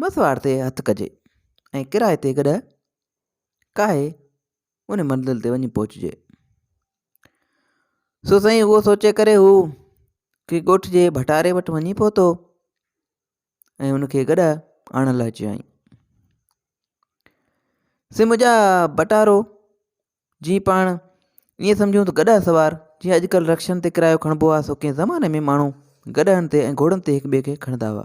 بس وار تي هٿ ڪجي ۽ ڪرائي تي گڏهه ڪاهي ان منزل تي وڃي پهچجي. سو سائين اهو سوچي ڪري هو ڪي ڳوٺ جي ڀٽاري وٽ وڃي پهتو ۽ ان کي گڏهه آڻڻ لاء چيائين سي منهنجا ڀٽارو جي پاڻ ائين سمجهون ته گڏهه سوار جيئن اڄڪلهه رڪشن تي ڪرايو کڻبو آهي سو ڪنهن زماني ۾ ماڻهو گڏهن تي ۽ گهوڙن تي هڪ ٻئي کي کڻندا هئا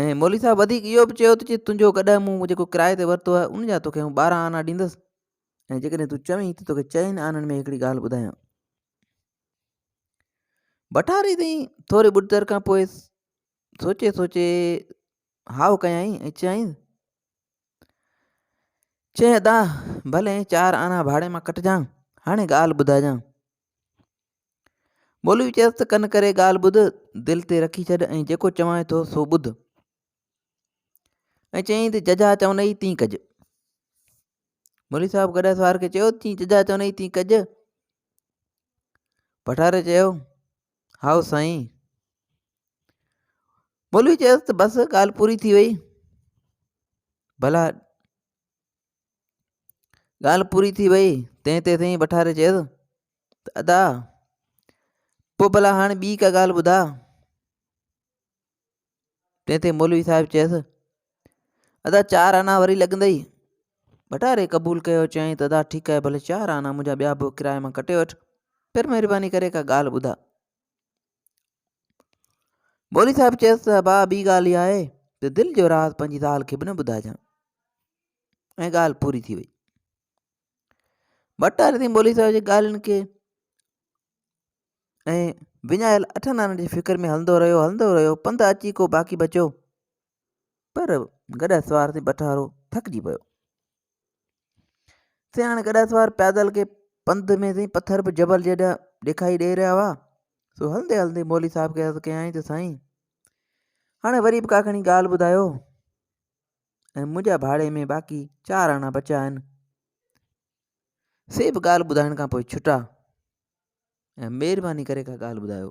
۽ مولوي صاحب وڌيڪ اهو به چيو ته تنهنجو ڪڏهن مون جيڪو ڪرايي تي ورتو آهي ان جا توکي آئون ٻارهن آنا ڏيندس ۽ جيڪڏهن تون چوين ته توکي چئن آنن ۾ هڪڙي ڳالهه ٻڌايان بٽاري تائين ٿوري ٻڏ تر کان پوء سوچي سوچي هاء ڪيائين ۽ چيائين چئين ادا ڀلي چار آنا ڀاڙي مان ڪٽجان هاڻي ڳالهه ٻڌائجان مولوي چيس ته ڪن ڪري ڳالهه ٻڌ دل تي رکي ڇڏ ۽ جيڪو چوانء ٿو سو ٻڌ ۽ چيائين ته ججا چوندئي تين ڪج مولوي صاحب گڏا سوار کي چيو تين ججا چوندئي تين ڪج پٺاري چيو هائو سائين مولوي چيس ته بس ڳالهه پوري ٿي وئي ڀلا ڳالهه پوري ٿي وئي تنهن تي سائين بٺاري چيس ته ادا پوء ڀلا هاڻي ٻي ڪا ڳالهه ٻڌا تنهن تي مولوي صاحب چيس ادا چار آنا وري لڳندئي بٽاري قبول ڪيو چيائين ته ادا ٺيڪ آهي ڀلي چار آنا منهنجا ٻيا به ڪرايي مان ڪٽي وٺ پر مهرباني ڪري ڪا ڳالهه ٻڌا مولوي صاحب چيس ته ابا ٻي ڳالهه اها آهي ته دل جو راز پنهنجي زال کي به نه ٻڌائجان ۽ ڳالهه پوري ٿي وئي ڀٽاري سين مولوي صاحب جي ڳالهين کي ۽ وڃايل اٺن آنن جي فڪر ۾ هلندو رهيو هلندو رهيو پنڌ اچي ڪو باقي بچو پر گڏهه سوار تي بٺارو ٿڪجي پيو. سياڻ گڏهه سوار پيادل کي پنڌ ۾ سائين پٿر به جبل جيڏا ڏيکائي ڏيئي رهيا هئا سو هلندي هلندي مولي صاحب کي عرض ڪيائين ته سائين هاڻي وري به ڪاکڻي ڳالهه ٻڌايو ۽ منهنجا ڀاڙي ۾ باقي چار آنا بچا آهن سي به ڳالهه ٻڌائڻ کان پوء ڇٽا ۽ مهرباني ڪري ڪا ڳالهه ٻڌايو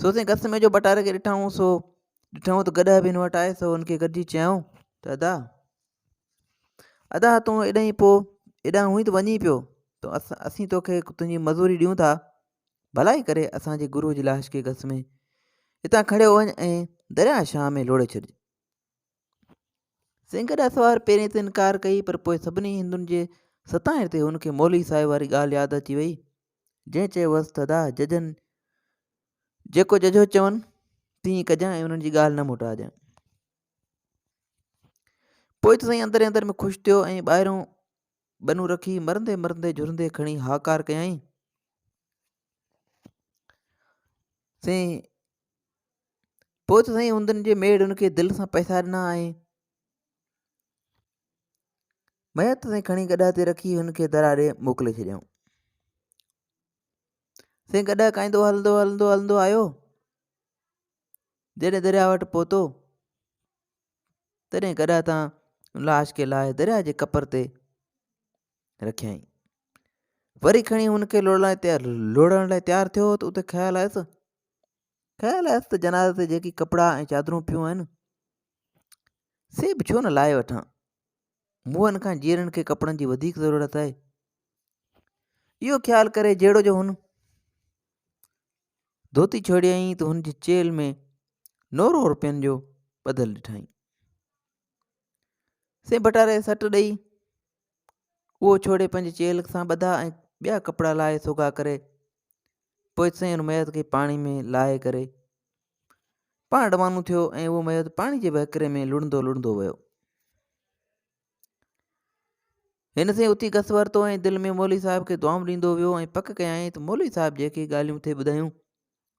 سو سائين گس ۾ جو بٽار کي ڏٺائون سو ڏٺائون ته گڏهه به هن وٽ آئي سو هن کي گڏجي چيائون ته ادا ادا تون اڏائي پوء اڏا هئي ته وڃي پيو تو اسين توکي تنهنجي مزوري ڏيون ٿا ڀلائي ڪري اسانجي گروء جي لاش کي گس ۾ هتان کڻي وڃ ۽ درياهه شاهه ۾ لوڙي ڇڏ سينگهه ڏاهه سوار پهرين ته انڪار ڪئي پر پوء سڀني هندن جي ستائڻ تي هن کي مولوي صاحب واري ڳالهه ياد اچي وئي جنهن چيو هوس ته ادا ججن جيڪو ججهو چون تيئن ڪجان ۽ انهن جي ڳالهه نه موٽاجان. پوء ته سائين اندر ئي اندر ۾ خوش ٿيو ۽ ٻاهريون ٻنون رکي مرندي مرندي جهرندي کڻي هاڪار ڪيائين سي پوء ته سائين هندن جي ميڙ ان کي دل سان پئسا ڏنا آهي. ميت سائين کڻي گڏهه تي رکي هن کي درا ڏي موڪلي ڇڏيائون سائين گڏهه کائيندو هلندو هلندو هلندو آيو جڏهن درياء وٽ پهتو تڏهن گڏهه تان لاش کي لاهي درياء جي کپر تي رکيائين وري کڻي هن کي لوڙڻ لاء تيار لوڙڻ لاء تيار ٿيو ته اتي خيال آيس خيال آيس ته جنازي تي جيڪي ڪپڙا ۽ چادرون پيون آهن سي به ڇو نه لاهي وٺان موهن کان جيئرن کي ڪپڙن جي وڌيڪ ضرورت آهي اهو خيال ڪري جهڙو جو هن ڌوتي ڇوڙيائين ته هن جي چيل ۾ نورو روپين جو ٻڌل ڏٺائين سين بٽاري سٽ ڏئي اهو ڇوڙي پنهنجي چيلهه سان ٻڌا ۽ ٻيا ڪپڙا لاهي سوگها ڪري پوء سين ان ميت کي پاڻي ۾ لاهي ڪري پاڻ روانو ٿيو ۽ اهو ميت پاڻي جي وهڪري ۾ لڙندو لڙندو ويو هن سين اتي گس ورتو ۽ دل ۾ مولوي صاحب کي دعائون ڏيندو ويو ۽ پڪ ڪيائين ته مولوي صاحب جيڪي ڳالهيون ٿي ٻڌايون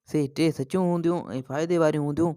سي ٽي سچيون هونديون ۽ فائدي واريون هونديون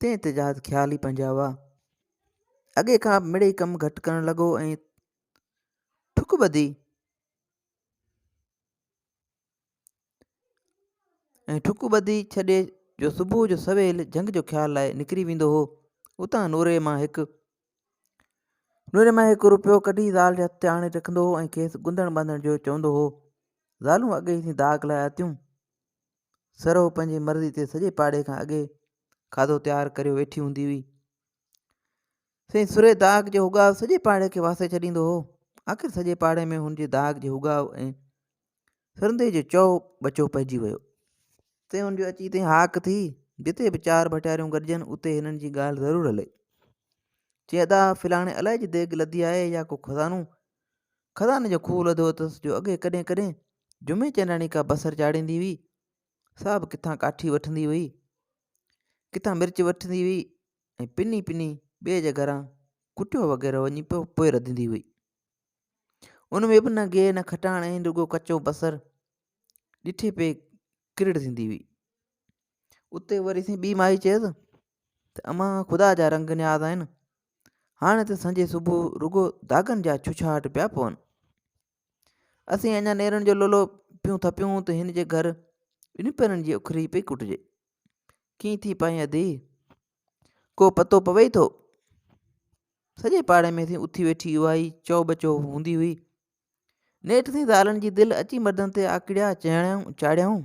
تنهن تي جهاز خيال ئي پنهنجا هئا. اڳي کان مڙئي ڪم گهٽ ڪرڻ لڳو ۽ ٺڪ ٻڌي ۽ ٺڪ ٻڌي ڇڏي جو صبح جو سويل جهنگ جو خيال لاء نڪري ويندو هو اتان نوري مان هڪ نوري مان هڪ روپيو ڪڍي زال جي هٿ تي آڻي رکندو هو ۽ کيس گندڻ ٻانڌڻ جو چوندو هو زالون اڳي ئي داغ لايا تيون سرهو پنهنجي مرضي تي سڄي پاڙي کان اڳي کاڌو تيار ڪريو ويٺي هوندي هئي سائين سرهي داغ جو هوگاء سڄي پاڙي کي واسي ڇڏيندو هو آخر سڄي پاڙي ۾ هن جي داغ جي هوگاء ۽ سرندي جو چو بچو پئجي ويو تي هن جو اچي تي هاڪ ٿي جتي به چار ڀٽياريون گڏجن اتي هنن جي ڳالهه ضرور هلي چي ادا فلاڻي الائي جي ديگ لڌي آهي يا ڪو خزانو خزاني جو کوهه لڌو اٿس جو اڳي ڪڏهن ڪڏهن جمعي چنڊاڻي ڪا بصر چاڙهيندي هئي، سا به ڪٿان ڪاٺي وٺندي هئي، ڪٿان مرچ وٺندي هئي ۽ پني پني ٻئي جي گهران ڪٽيو وغيره وڃي پيو پوء رڌندي هئي. ان ۾ به نه گيهه نه کٽاڻ ۽ رڳو ڪچو بصر ڏٺي پئي ڪرڙ ٿيندي هئي. اتي وري سين ٻي مائي چيس ته امان خدا جا رنگ نياز آهن، هاڻي ته سنجي صبح رڳو داغن جا ڇڇاهٽ پيا پون اسين اڃا نيرن جو لولو پيون ٿپيون ته هن جي گهر ٻن پيرن جي اکري پئي ڪٽجي ڪيئن ٿي پائين ادي ڪو پتو پوي ٿو سڄي پاڙي ۾ سين اٿي ويٺي اها ئي چو بچو هوندي هئي نيٺ سين زالن جي دل اچي مردن تي آڪڙيا چاڙيائون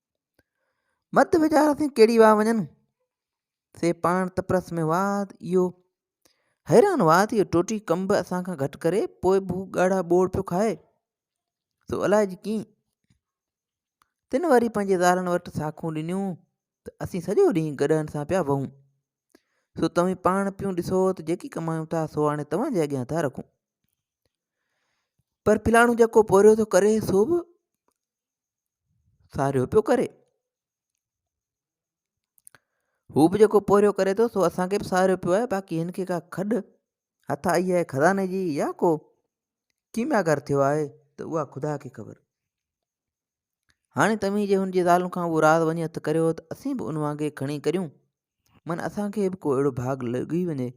مت ويچار اٿي ڪهڙي واهه وڃن سي پاڻ تپرس ۾ واد اهو حيران واد اهو ٽوٽي ڪم به اسان کان گهٽ ڪري پوء به هو ڳاڙها ٻوڙ پيو کائي سو الائي جي ڪيئن تن وري پنهنجي زالن وٽ ساکون ڏنيون ته اسين سڄو ڏينهن گڏهن سان پيا وهون سو توهين پاڻ پيون ڏسو ته جيڪي ڪمايون ٿا سو هاڻي توهان جي اڳيان ٿا رکون پر فلاڻو جيڪو پورهيو ٿو ڪري سو به ساريو پيو ڪري هو به جيڪو پورهيو ڪري ٿو سو اسانکي به ساريو پيو آهي باقي هن کي کا کڏ هٿ آئي آهي خزاني جي يا ڪو ڪيميا گھر ٿيو آهي ته اها خدا کي خبر هاڻي توهين جي هن جي ذالن کان اهو راز وڃي هٿ ڪريو ته اسين به ان وانگي کڻي ڪريون من اسان کي به ڪو اهڙو ڀاڳ لڳي وڃي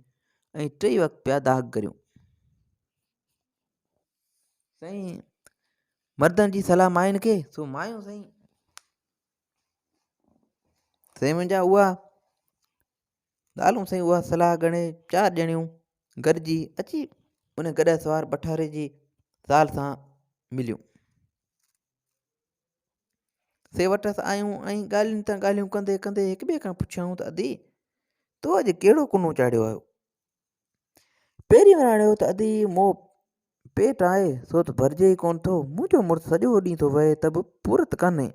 ۽ ٽئي وقت پيا داغ ڪريون سائين مردن جي صلاح ماين کي سو مايون سائين سائين منهنجا اها ڳالهيون سائين اها صلاح ڳڻي چار ڄڻيون گڏجي اچي ان گڏهه سوار بٺاري جي زال سان مليون سي وٽس آيون ۽ ڳالهين تان ڳالهيون ڪندي ڪندي هڪ ٻئي کان پڇيائون ته ادي تو اڄ ڪهڙو ڪنو چاڙهيو آهيو پهرين وراڻيو ته ادي مون پيٽ آهي سو ته ڀرجي ئي ڪونه ٿو منهنجو مڙس سڄو ڏينهن ٿو وهي ته به پورت ڪانهي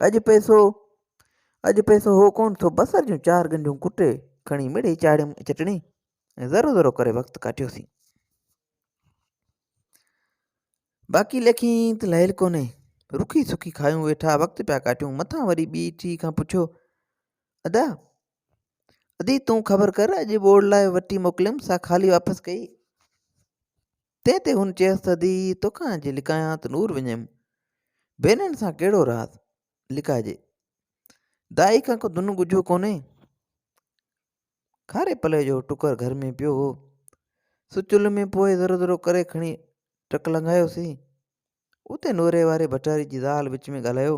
اڄ پئسو اڄ پئسو هو ڪونه ٿو بصر جون چار ڳنڍيون ڪٽي کڻي مڙئي چاڙهيم چٽڻي ۽ ذرو ذرو ڪري وقت ڪاٽيوسين باقي لکين ته لهيل ڪونهي. رکي سکي کايون ويٺا وقت پيا ڪاٽيون مٿان وري ٻي ٽي کان پڇيو ادا ادي تون خبر ڪر اڄ ٻوڙ لاء وٽي موڪليم سا خالي واپس ڪئي تنهن تي هن چيس ته ادي توکان جي لڪايان ته نور وڃيم ڀينرن سان ڪهڙو راز لڪائجي دائي کان ڪو دنو ڳجهو ڪونهي کاري پلئي جو ٽڪر گهر ۾ پيو هو، سو چلهه ۾ پوئي ذرو ذرو ڪري کڻي ٽڪ لنگهايوسين. اتي نوري واري ڀٽاري جي زال وچ ۾ ڳالهايو.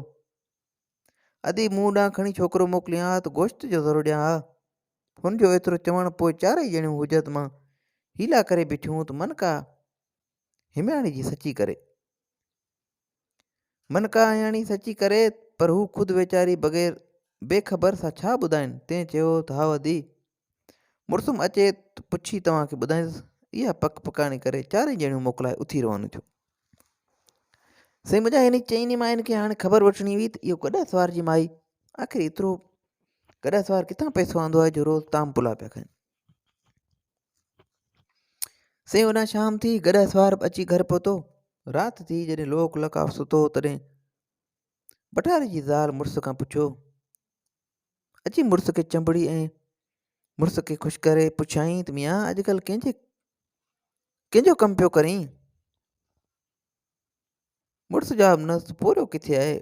ادي مون ڏانهن کڻي ڇوڪرو موڪلين ها ته گوشت جو ذرو ڏيان ها. هن جو ايترو چوڻ پوء چارئي ڄڻيون حجت مان حيلا ڪري بيٺيون ته من ڪا همياڻي جي سچي ڪري. من ڪاهياڻي سچي ڪري پر هو خود ويچاري بغير بي خبر سا ڇا ٻڌائين تنهن چيو ته هاء ادي مڙسم اچي ته پڇي توهان کي ٻڌائينس اها پڪ پڪاڻي ڪري چارئي ڄڻيون موڪلائي اٿي روانيون ٿيون سائين منهنجا هن چئني ماين کي هاڻي خبر وٺڻي هئي ته اهو گڏا سوار جي مائي آخر ايترو گڏا سوار ڪٿان پئسو آندو آهي جو روز تام پلا پيا کائين سي هن شام ٿي گڏهه سوار اچي گهر پهتو رات ٿي جڏهن لوڪ لڪاف ستو تڏهن بٽاري جي زال مڙس کان پڇيو اچي مڙس کي چنبڙي ۽ مڙس کي خوش ڪري پڇيائين ته ميان اڄڪلهه ڪنهنجي ڪنهنجو ڪم پيو ڪرين مڙس جواب نه پورهيو ڪٿي آهي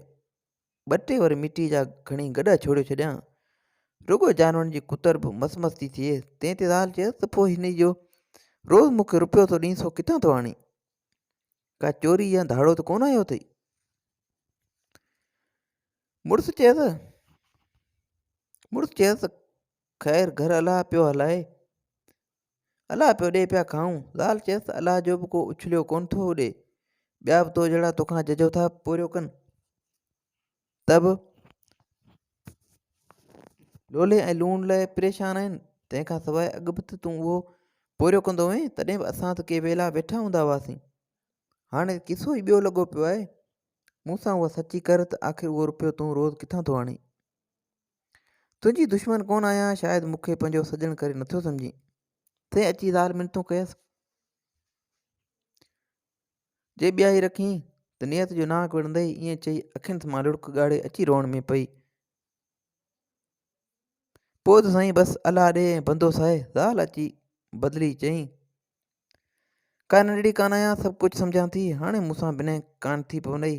ٻه ٽي ور مٽيء جا کڻي گڏا ڇوڙي ڇڏيان. رڳو جانورن جي ڪتر به مس مس ٿي ٿئي. تنهن تي زال چيس ته پوء هن جو روز مون کي رپيو ٿو ڏئين سو ڪٿان ٿو آڻين؟ ڪا چوري يا ڌاڙو ته ڪونه آيو اٿئي؟ مڙس چيس مڙس چيس ته خير گهر الله پيو هلائي. الله پيو ڏي پيا کائون. زال چيس ته الله جو به ڪو اڇليو ڪونه ٿو اڏي. ٻيا به تو جهڙا توکان ججهو ٿا پورهيو ڪن ته به لولي ۽ لوڻ لاء پريشان آهن. تنهن کان سواء اڳ به ته تون اهو پورهيو ڪندو هئين، تڏهن به اسان ته ڪي ويلا ويٺا هوندا هئاسين. هاڻي ته قصو ئي ٻيو لڳو پيو آهي. مون سان اها سچي ڪر ته آخر اهو رپيو تون روز ڪٿان ٿو آڻين؟ تنهنجي دشمن ڪونه آهيان شايد مون کي پنهنجو سڄڻ ڪري نٿو سمجهين تنهن اچي زال منتون ڪيس جي ٻياهي رکين ته نيت جو ناڪ وڙندي ائين چئي اکين مان لڙڪ ڳاڙي اچي روئڻ ۾ پئي پوء ته سائين بس الله ڏي ۽ بندو ساهي زال اچي بدلي چئي ڪا ننڍڙي ڪانه آهيان سڀ ڪجهه سمجهان ٿي هاڻي مون سان بنهه ڪانه ٿي پوندئي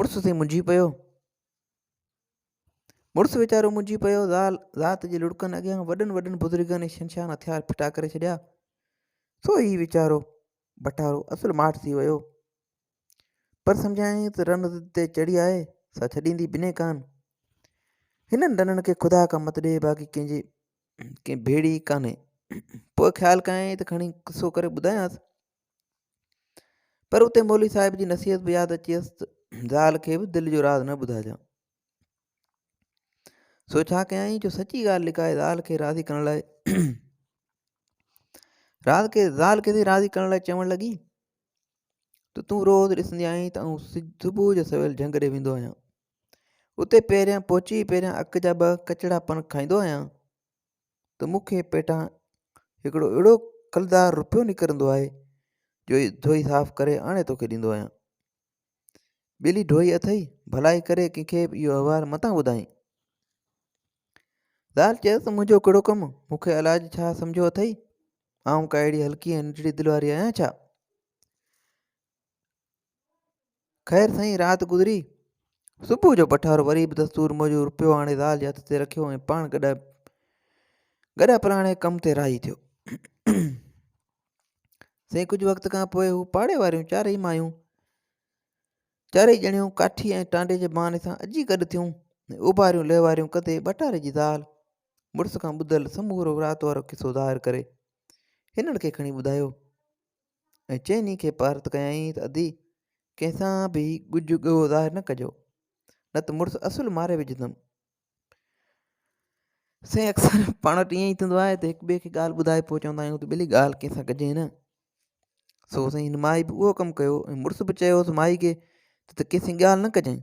مڙس سين منجهي پيو. مڙس ويچارو منجهي پيو. زال ذات جي لڙڪن اڳيان وڏن وڏن بزرگن ۽ شنشان هٿيار ڦٽا ڪري ڇڏيا. سو هي ويچارو بٽارو اصل ماٺ ٿي ويو. پر سمجهايائين ته رن ضد تي چڙهي آهي سا ڇڏيندي بني ڪان. هنن ڏنن کي خدا ڪا مت ڏي باقي ڪنهن جي ڪنهن ڀيڙي ڪانهي. پوء خيال ڪيائين ته کڻي قصو ڪري ٻڌايانس. پر اتي مولوي صاحب جي نصيحت به ياد اچيس ته زال کي به دل جو راز نه ٻڌائجان سو ڇا ڪيائين جو سچي ڳالهه لڪائي زال کي راضي ڪرڻ لاء راز کي زال کي راضي ڪرڻ لاء چوڻ لڳي ته تون روز ڏسندي آهين ته آئون صبح جو سويل جهنگ ڏي ويندو آهيان اتي پهريان پهچي پهريان اک جا ٻه ڪچڙا پن کائيندو آهيان ته مون کي پيٽان هڪڙو اهڙو کلدار روپيو نڪرندو آهي جو ڌوئي صاف ڪري آڻي توکي ڏيندو آهيان ٻلي ڍوئي اٿئي ڀلائي ڪري ڪنهن کي به اهو احوال متان ٻڌائين زال چيس ته منهنجو ڪهڙو ڪم مون کي علاج ڇا سمجهيو اٿئي آئون ڪا اهڙي هلڪي ۽ ننڍڙي دل واري آهيان ڇا خير سائين رات گذري صبح جو پٺار وري به دستور موجب روپيو آڻي زال جي هٿ تي رکيو ۽ پاڻ گڏا گڏا پراڻي ڪم تي راضي ٿيو سائين ڪجهه وقت کان پوء هو پاڙي واريون چارئي مايون چارئي ڄڻيون ڪاٺي ۽ ٽانڊي جي بهاني سان اجي گڏ ٿيون اوڀاريون لهواريون ڪندي ٻٽاري جي زال مڙس کان ٻڌل سمورو رات وارو قصو ظاهر ڪري هنن کي کڻي ٻڌايو ۽ چئني کي پارت ڪيائين ته ادي ڪنهن سان به ڳجهه ڳوهه ظاهر نه ڪجو نه ته مڙس اصل ماري وجهندم. سائين اڪثر پاڻ وٽ ائين ئي ٿيندو آهي ته هڪ ٻئي کي ڳالهه ٻڌائي پوء چوندا آهيون ته ڀلي ڳالهه ڪنهن سان ڪجي نه سو سائين هن مائي به اهو ڪم ڪيو ۽ مڙس به چيوس مائي کي ته ڪنهن سان ڳالهه نه ڪجانء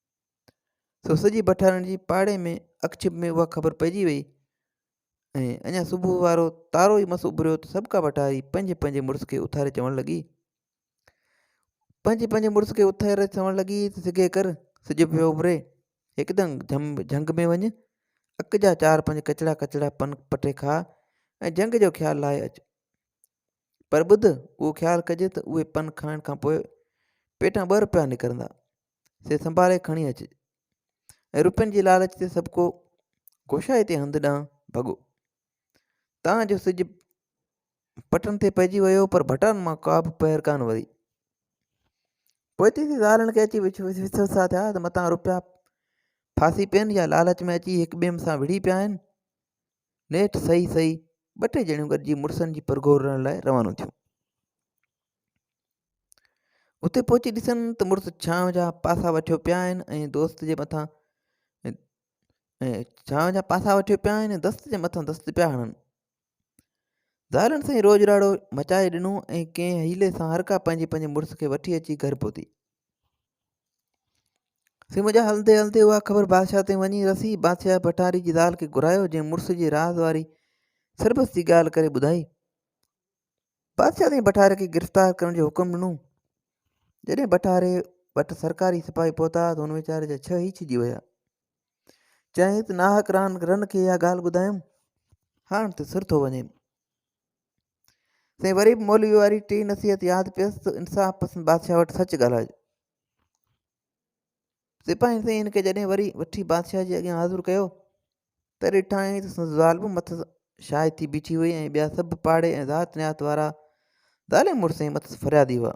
سو سڄي بٺارڻ جي پاڙي ۾ اڪڇپ ۾ اها خبر پئجي وئي ۽ اڃا صبح وارو تارو ئي مس اڀريو ته سڀ ڪا بٺاري پنهنجي پنهنجي مڙس کي اٿاري چوڻ لڳي پنهنجي پنهنجي مڙس کي اٿاري چوڻ لڳي ته سگهي ڪر سج پيو اڀري هڪدم جم جهنگ ۾ وڃ اک جا چار پنج ڪچڙا ڪچڙا پن پٽي کاء ۽ جهنگ جو خيال لاهي اچ پر ٻڌ اهو خيال ڪجي ته اهي پن کائڻ کان پوء پيٽان ٻه روپيا نڪرندا سي سنڀالي کڻي اچ ۽ روپين جي لالچ تي سڀ ڪو گوشائي تي هنڌ ڏانهن ڀڳو تان جو سج پٽن تي پئجي ويو پر ڀٽان مان ڪا به پهر ڪان وري پوء تي زالن کي اچي وسوسا ٿيا ته متان روپيا ڦاسي پين يا لالچ ۾ اچي هڪ ٻئي سان وڙهي پيا آهن نيٺ صحيح صحيح ٻه ٽي ڄڻيون گڏجي مڙسن جي پرگهور رهڻ لاء روانو ٿيون اتي پهچي ڏسن ته مڙس ڇانء جا پاسا وٺيو پيا آهن ۽ دوست جي مٿان ڇانء جا پاسا وٺيو پيا آهن ۽ دست جي مٿان دست پيا هڻن ظاهرن سائين روڄ راڙو مچائي ڏنو ۽ ڪنهن حيلي سان هر ڪا پنهنجي پنهنجي مڙس کي وٺي اچي گهر پهتي سي منهنجا هلندي هلندي اها خبر بادشاهه تائين وڃي رسي بادشاهه ڀٽاري جي زال کي گهرايو جنهن مڙس جي راز واري سربس جي ڳالهه ڪري ٻڌائي بادشاهه سائين بٺاري کي گرفتار ڪرڻ جو حڪم ڏنو. جڏهن بٺاري وٽ سرڪاري سپاهي پهتا ته هن ويچاري جا ڇهه ئي ڇڄي ويا. چيائين ته ناحق ران رن کي اها ڳالهه ٻڌايم، هاڻ ته سر ٿو وڃين. سائين وري به مولوي واري ٽي نصيحت ياد پيس ته انصاف پسند بادشاهه وٽ سچ ڳالهائج. سپاهين سائين هن کي جڏهن وري وٺي بادشاهه جي اڳيان حاضر ڪيو ته ڏٺائين ته سندس زال به مٿس شاهي ٿي بيٺي هئي ۽ ٻيا سڀ پاڙي ۽ ذات نيات وارا زالي مڙس ۽ مٿس فريادي هئا.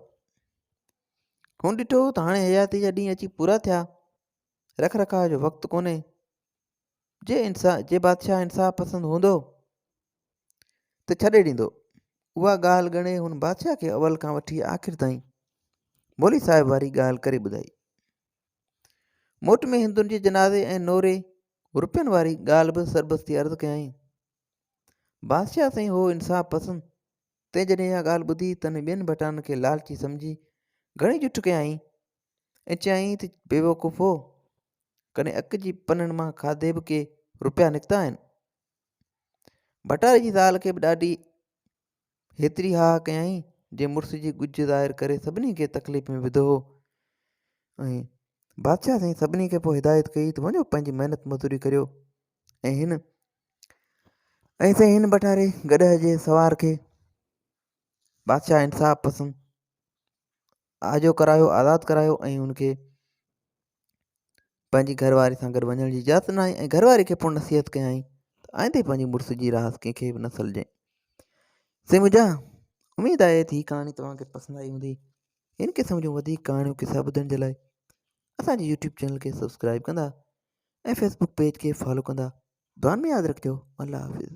هن ڏٺو ته هاڻي حياتيء جا ڏينهن اچي پورا ٿيا، رک رکاء جو وقت ڪونهي. جي انصا جي بادشاهه انصاف پسند هوندو ته ڇڏي ڏيندو. اها ڳالهه ڳڻي هن بادشاهه کي اول کان وٺي آخر تائين مولوي صاحب واري ڳالهه ڪري ٻڌائي. موٽ ۾ هندن جي جنازي ۽ نوري روپين واري ڳالهه به سربستي عرض ڪيائين. بادشاهه سائين هو انصاف پسند تنهن جڏهن اها ڳالهه ٻڌي تنهن ٻين ڀٽانن کي لالچي سمجهي گهڻي جٺ ڪيائين ۽ چيائين ته بيوقوفو ڪڏهن اک جي پنن مان کاڌي به ڪي روپيا نڪتا آهن ڀٽائي جي زال کي به ڏاڍي هيتري ها ڪيائين جي مڙس جي ڳجهه ظاهر ڪري سڀني کي تڪليف ۾ وڌو هو ۽ بادشاهه سائين سڀني کي پوء هدايت ڪئي ته وڃو پنهنجي محنت مزدوري ڪريو ۽ هن ۽ سائين هن بٽاري گڏهه جي سوار کي بادشاهه انصاف پسند آجو ڪرايو آزاد ڪرايو ۽ ان کي پنهنجي گهر واري سان گڏ وڃڻ جي اجازت ناهي ۽ گهر واري کي پڻ نصيحت ڪيائين ته آئندي پنهنجي مڙس جي راحت ڪنهن کي به نه سلجين سي منهنجا اميد آهي ته هي ڪهاڻي توهان کي پسند آئي هوندي هن قسم جون وڌيڪ ڪهاڻيون قصا ٻڌڻ جي لاء اسانجي يوٽيوب چينل کي سبسڪرائب ڪندا ۽ فيسبوڪ پيج کي فالو ڪندا دعا ۾ ياد رکجو الله حافظ